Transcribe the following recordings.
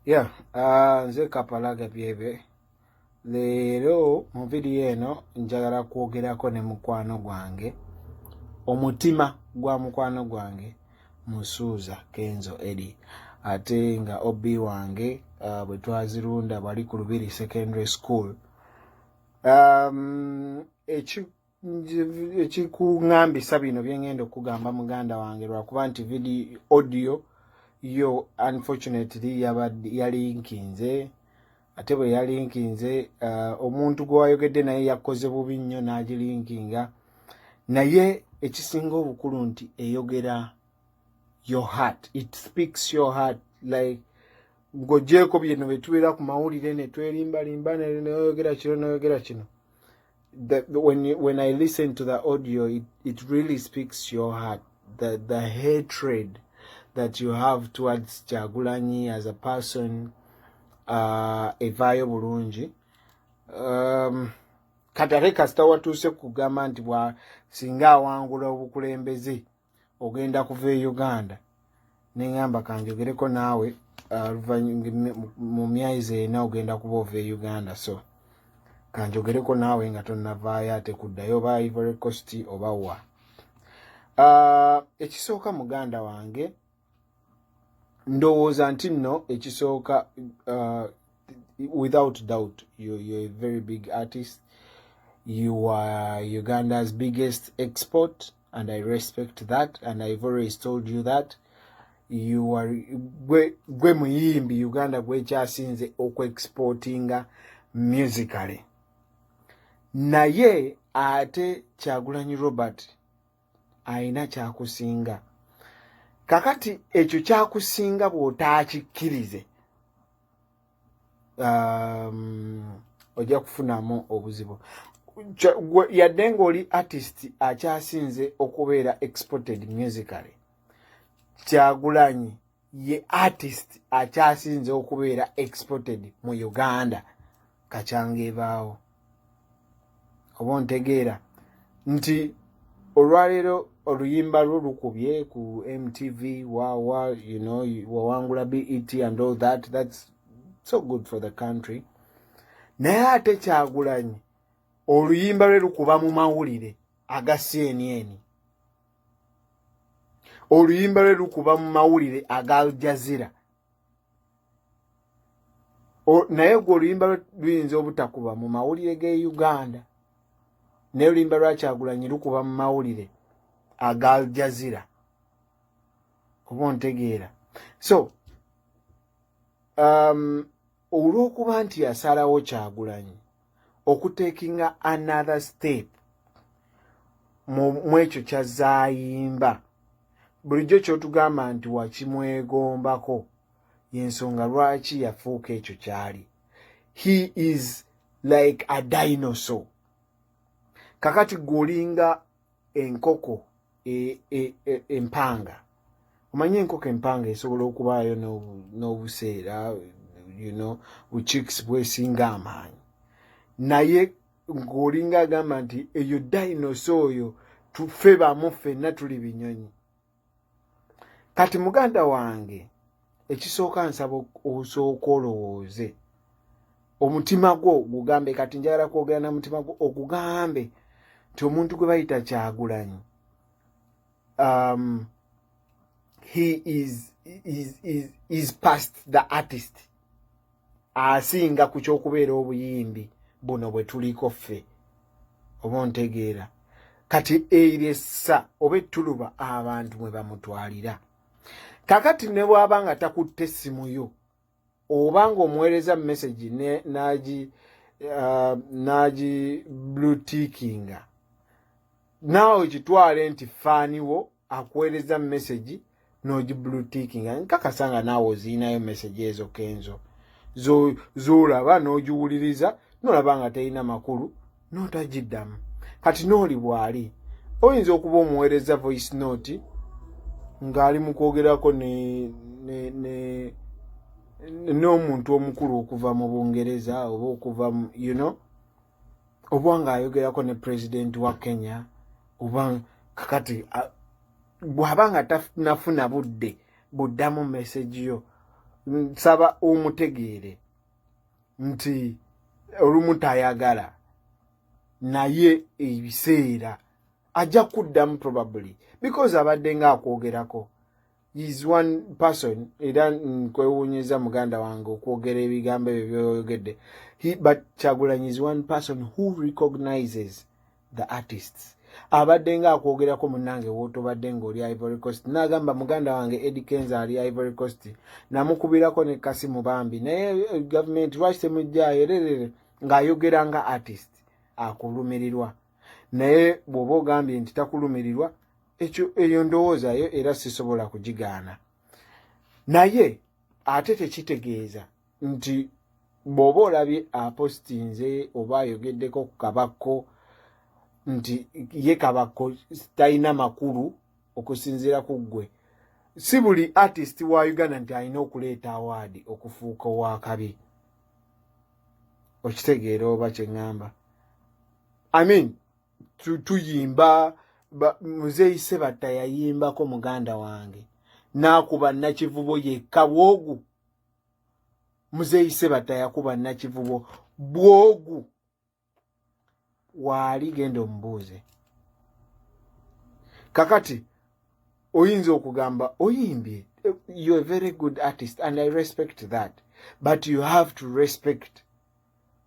Yeah, uh, nze kapalaga byebe leero mu vidiyo eno njagala kwogerako ne mukwano gwange omutima gwa mukwano gwange musuuza kenzo edi ate nga ob wange uh, bwe twazirunda bali ku lubiri secondary school um, ekikungambisa bino byengenda okugamba muganda wange lwakuba nti vidi audio yo unfortunately yalinkinze ate bwe yalinkinze uh, omuntu gwe wayogedde naye yakoze bubi nnyo n'agilinkinga naye ekisinga obukulu nti eyogera your heart it speaks your heart like ng'ogyeko bino bye tubeera ku mawulire ne twerimbalimba neyogera kino neyogera kino that when you, when I listen to the audio, it, it really speaks your heart. The the hatred that you have towards Jagulanyi as a person, uh, Evayo Burunji. Um, katale kasita watuuse kugamba nti bwa singa awangula obukulembeze ogenda kuva e uganda neŋamba kanjogereko naawe uh, mu myaizi ena ogenda kuba ova e uganda so kanjogereko naawe nga tonnavaayo ate kuddayo oba ivory cost oba wa uh, ekisooka muganda wange ndowooza nti nno ekisooka uh, without doubt you, you're a very big artist you are uganda's biggest export and i respect that and i've always told you that you are gwe, gwe muyimbi uganda gwekyasinze okuexportinga musically naye ate kyagulanyi robert alina kyakusinga kakati ekyo kyakusinga bw'otaakikkirize um, ojja kufunamu obuzibu yadde ng'oli artist akyasinze okubeera exported musically kyagulanyi ye artist akyasinze okubeera exported mu uganda kakyanga ebaawo oba ontegeera nti olwaleero oluyimba lwo lukubye ku mtv wawa you know wawangula bet and all that thats so good for the country naye ate kyagulanyi oluyimba lwe lukuba mu mawulire aga cnn oluyimba lwe lukuba mu mawulire aga aljazira naye gwe oluyimba luyinza obutakuba mu mawulire ge uganda naye oluyimba lwakyagulanyi lukuba mu mawulire aga aljazira oba ontegeera so um, olw'okuba nti yasalawo kyagulanyi okutekinga another step mu ekyo kyazayimba bulijjo kyotugamba nti wakimwegombako yensonga lwaki yafuuka ekyo kyali he is like a dinosaur kakati gwolinga enkoko e, e, e, empanga omanyi enkoko empanga esobola okubaayo n'obuseera you know buchiks bwesinga amaanyi naye ng'olinga agamba nti eyo dinosa oyo tufe bamu ffenna tuli binyonyi kati muganda wange ekisooka nsaba osooka olowooze omutima gwo gugambe kati njagala kwogera na mutima gwo ogugambe nti omuntu gwe bayita kyagulanyi um, he is, is, is, is past the artist asinga ku ky'okubeera obuyimbi buno bwe tuliko ffe oba ontegeera kati eryo essa oba ettuluba abantu mwe bamutwalira kakati ne bwaba nga takutte essimu yo oba ng'omuweereza mu mesagi nagi uh, nagi blutikinga naawe kitwale nti faaniwo akuweereza message nogi blue ticking nkakasa nga naawe oziinayo message ezo kenzo zolaba nogiwuliriza nolaba nga terina makulu notagiddamu kati nooli bwali oyinza okuba omuweereza voice note ng'ali mu kwogerako ne ne ne n'omuntu omukulu okuva mu bungereza oba okuva you know oba ng'ayogerako ne pulezidenti wa kenya oba kakati bw'aba nga tanafuna budde buddamu mesegi yo nsaba omutegeere nti olumu tayagala naye ebiseera ajja kuddamu probably because abadde nga akwogerako is one person era nkwewuunyizza muganda wange okwogera ebigambo ebyo byoyogedde but kyagulanyi is one person who recognizes the artists abadde nga akwogerako munange wotobadde ngaoli ivory coast nagamba muganda wange edi kenza ali ivory coast namukubirako ne kasimu bambi naye eh, gavumenti lwaki temujjayo ererere ng'ayogera nga artist akulumirirwa naye bw'oba ogambye nti takulumirirwa ekyo eyo ndowooza yo era sisobola kugigaana naye ate tekitegeeza nti bw'oba olabye apostinze oba ayogeddeko ku kabakko nti ye kabakko talina makulu okusinziira ku ggwe si buli artist wa uganda nti alina okuleeta awaadi okufuuka owakabi okitegeera oba kyeŋŋamba i mean tuyimba muzeeyi sebatta yayimbako muganda wange naakuba nakivubo yekka bwogu muzeeyi sebatta yakuba nakivubo bwogu waali genda omubuuze kakati oyinza okugamba oyimbye you're a very good artist and i respect that but you have to respect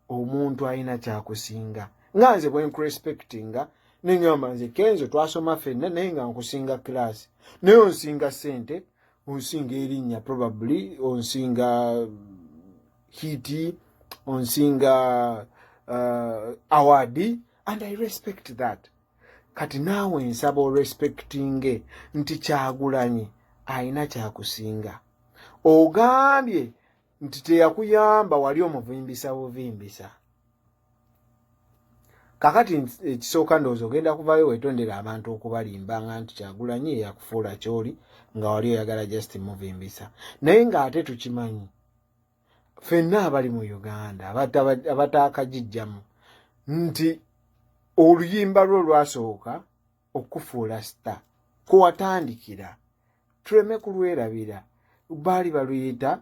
omuntu alina kyakusinga nga nze bwenkurespectinga neŋamba nze kenzo twasoma fenna naye nga nkusinga kilasi naye onsinga sente onsinga erinnya probably onsinga hiti onsinga uh, awadi and i respect that kati naawe nsaba orespectinge nti kyagulanyi alina kyakusinga ogambye nti teyakuyamba wali omuvimbisa buvimbisa kakati ekisooka ndowooza ogenda kuvayo wetondera abantu okubalimba nga nti kyagulanyi eyakufuula kyoli nga wali oyagala just muvimbisa naye ng'ate tukimanyi fenna abali mu uganda abataakagijjamu nti oluyimba lwo lwasooka okufuula sita kwe watandikira tuleme kulwerabira baali baluyita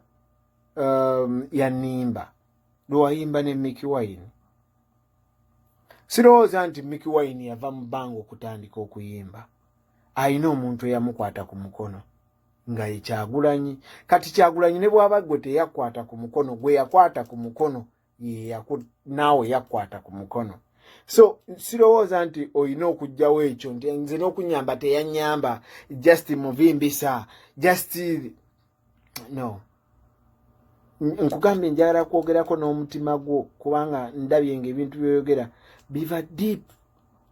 um, yanimba lwewayimba ne miki wine sirowooza nti miki wine yava mu bbanga okutandika okuyimba alina omuntu eyamukwata ku mukono nga ye kyagulanyi kati kyagulanyi ne bwaba gwe teyakwata ku mukono gwe yakwata ku mukono naawe yakwata ku mukono so sirowooza nti olina okugjawo ekyo nti nze n'okunyamba teyanyamba just muvimbisa just no nkugambye njagala kwogerako n'omutima gwo kubanga ndabye nga ebintu byoyogera biva deep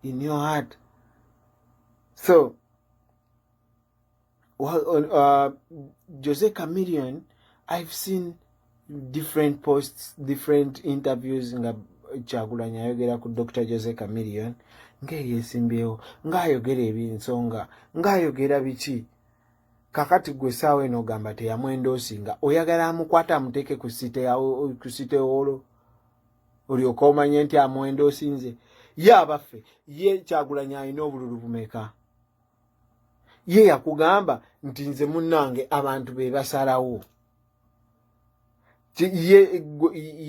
in your heart so well, uh, uh, Jose Chameleon I've seen different posts different interviews nga kyagulanyi ayogera ku Dr. Jose Chameleon ngeyesimbyewo ngaayogera ebinsonga ngaayogera biki kakati gwe saawa eno ogamba teyamwendoosinga oyagala amukwata amuteeke ku site wolo olyoka omanye nti amwendoosinze ye abaffe ye kyagulanyi alina obululu bumeka ye yakugamba nti nze munange abantu be basalawo ye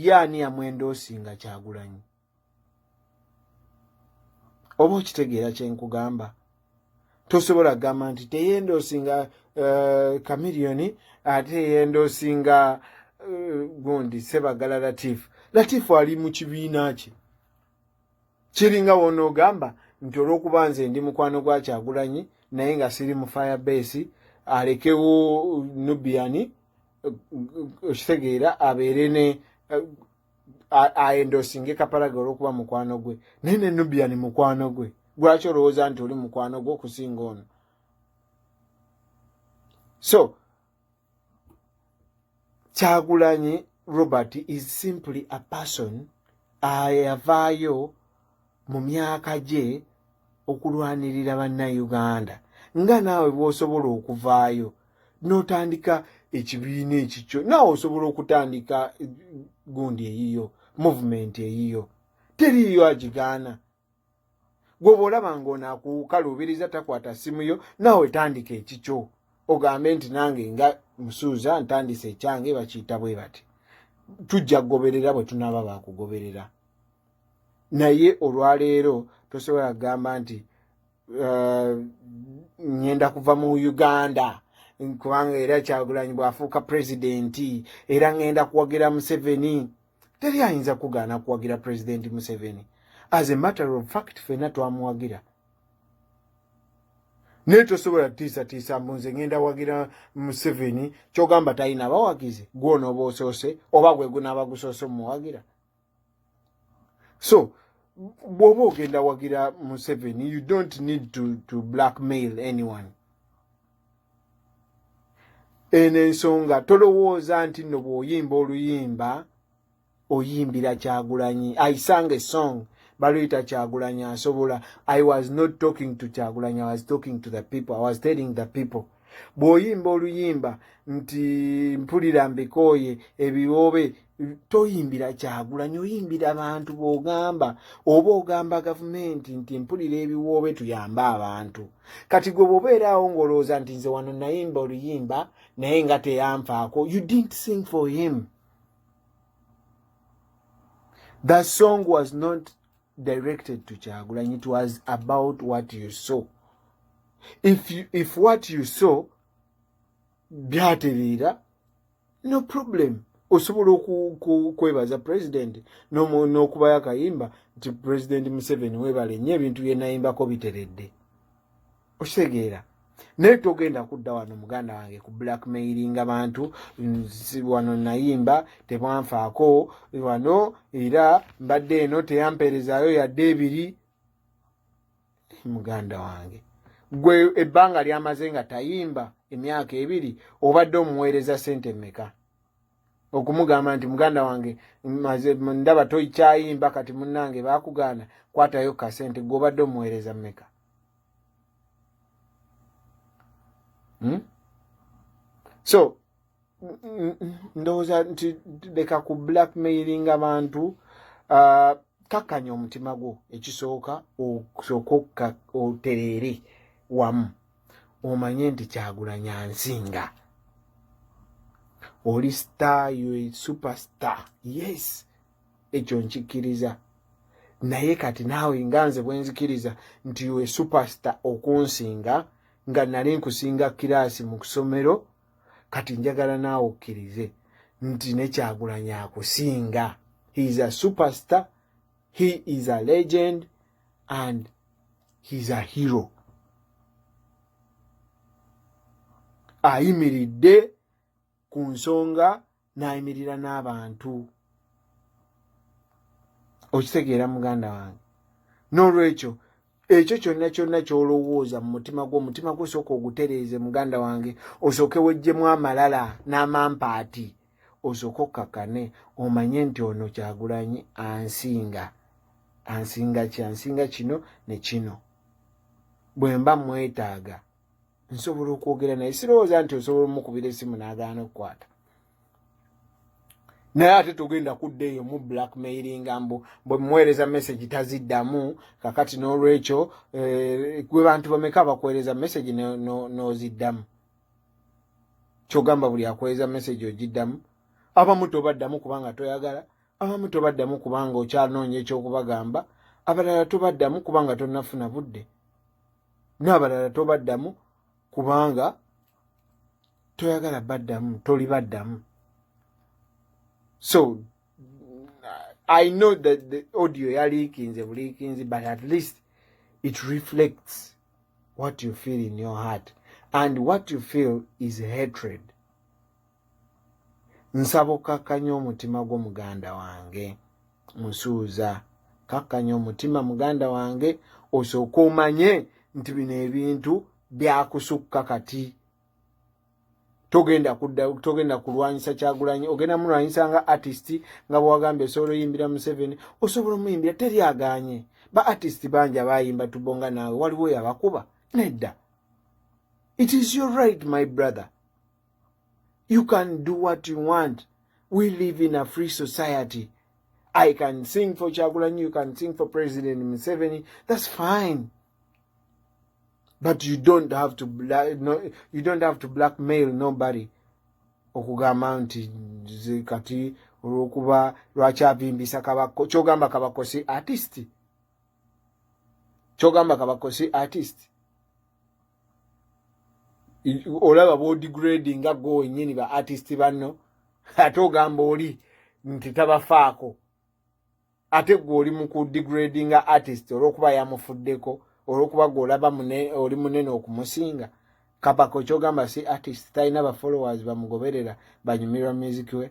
ye ani yamwenda osinga kyagulanyi oba okitegeera kyenkugamba tosobola kugamba nti teyenda osinga kamiliyoni eh, ate yenda osinga eh, gundi sebagala latifu latifu ali mu kibiina kye kiringa wonoogamba nti olwokuba nze ndi mukwano gwa kyagulanyi naye nga siri mu fire base alekewo nubiani okitegeera abeere ne aendosinge kapalaga olwokuba mukwano gwe naye ne nubiani mukwano gwe lwaki olowooza nti oli mukwano gwe okusinga ono so kyagulanyi robert is simply a person ayavaayo mu myaka gye okulwanirira bannayuganda nga naawe bwosobola okuvaayo n'otandika ekibiina ekikyo naawe osobola okutandika gundi eyiyo movement eyiyo teriiyo agigaana gwoba olaba nga ono akuwukaluubiriza takwata ssimu yo naawe tandika ekikyo ogambe nti nange nga musuuza ntandise ekyange bakiyita bwe bati tujja kugoberera bwe tunaaba bakugoberera naye olwaleero tosobola kugamba nti eh, ŋŋenda kuva mu uganda kubanga era kyagulanyi bw'afuuka pulezidenti era ŋŋenda kuwagira museveni teri ayinza kugaana kuwagira pulezidenti museveni as a matter of fact fena twamuwagira naye tosobola tiisatiisa mbu nze ngenda wagira museveni kyogamba talina abawagizi gwona oba osoose oba gwe gunaaba gusoose omuwagira so bwoba ogenda wagira museveni you don't need to, to blackmail anyone eno ensonga tolowooza nti nno bw'oyimba oluyimba oyimbira kyagulanyi i sang a song baluyita kyagulanyi asobola i was not talking to kyagulanyi i was talking to the people i was telling the people bw'oyimba oluyimba nti mpulira mbikooye ebiwoobe toyimbira kyagulanyi oyimbira abantu bogamba oba ogamba gavumenti nti mpulira ebiwoobe tuyambe abantu kati gwe bwobeeraawo ngaolowooza nti nze wano nayimba oluyimba naye nga teyanfaako you didn't sing for him the song was not directed to kyagulanyi it was about what you saw if, you, if what you saw byatereera no problem osobola okwebaza president n'okubayo akayimba nti president museveni webale nyo ebintu byenayimbako biteredde okitegeera naye togenda kudda wano muganda wange ku blackmailinga bantu wano nayimba tebwanfaako wano era mbadde eno teyampeerezaayo yadde ebiri muganda wange gwe ebbanga lyamaze nga tayimba emyaka ebiri obadde omuweereza sente meka okumugamba nti muganda wange ndaba toikyayimba kati munange bakugaana kwatayo kasente gwe obadde omuweereza meka hmm? so ndowooza nti leka ku blackmailing abantu uh, kakkanya omutima gwo ekisooka osooka otereere wamu omanye nti kyagulanya nsinga oli star yo superstar yes ekyo nkikkiriza naye kati naawe nga nze bwenzikiriza nti yo superstar okunsinga nga nali nkusinga kiraasi mu kusomero kati njagala naawe okkirize nti nekyagulanyi akusinga he is a superstar he is a legend and he is a hero ayimiridde ku nsonga n'ayimirira n'abantu okitegeera muganda wange n'olwekyo ekyo kyonna kyonna kyolowooza mu mutima gwo omutima gwo sooka ogutereeze muganda wange osooke wejjemu amalala n'amampaati osooke okkakane omanye nti ono kyagulanyi ansinga ansinga ki ansinga kino ne kino bwe mba mwetaaga nsobola okwogera naye sirowooza nti osobola omukubira esimu n'agaana okukwata naye ate togenda kudda eyo mu blackmailinga mbu bwe muweereza message taziddamu kakati n'olwekyo eh, gwe bantu bameka abakuweereza message n'oziddamu kyogamba buli akuweereza message ogiddamu abamu tobaddamu kubanga toyagala abamu tobaddamu kubanga okyanoonya ekyokubagamba abalala tobaddamu kubanga tonnafuna budde n'abalala tobaddamu kubanga toyagala baddamu toli baddamu so i know that the audio yaliikinze buliikinzi but at least it reflects what you feel in your heart and what you feel is hatred nsaba okkakkanya omutima gwo muganda wange musuuza kakkanya omutima muganda wange osooka omanye nti bino ebintu byakusukka kati togenda kudda togenda kulwanyisa kyagulanyi ogenda mulwanyisa nga artist nga bwewagambye osobola oyimbira museveni osobola omuyimbira teri aganye ba artist bangi abayimba tubonga naawe waliwo yabakuba nedda it is your right my brother you can do what you want we live in a free society i can sing for chagulanyi you can sing for president museveni that's fine but you don't have to black, no, you don't have to blackmail nobody okugamba nti kati olwokuba lwaki avimbisa kabako kyogamba kabako si artist kyogamba kabako si artist olaba body grading nga go wenyini ba artist banno ate ogamba oli nti tabafaako ate gwe oli mu kudegrading nga artist olwokuba yamufuddeko olwokuba gwe olaba oli munene okumusinga kapako kyogamba si artist talina bafollowers bamugoberera banyumirwa music we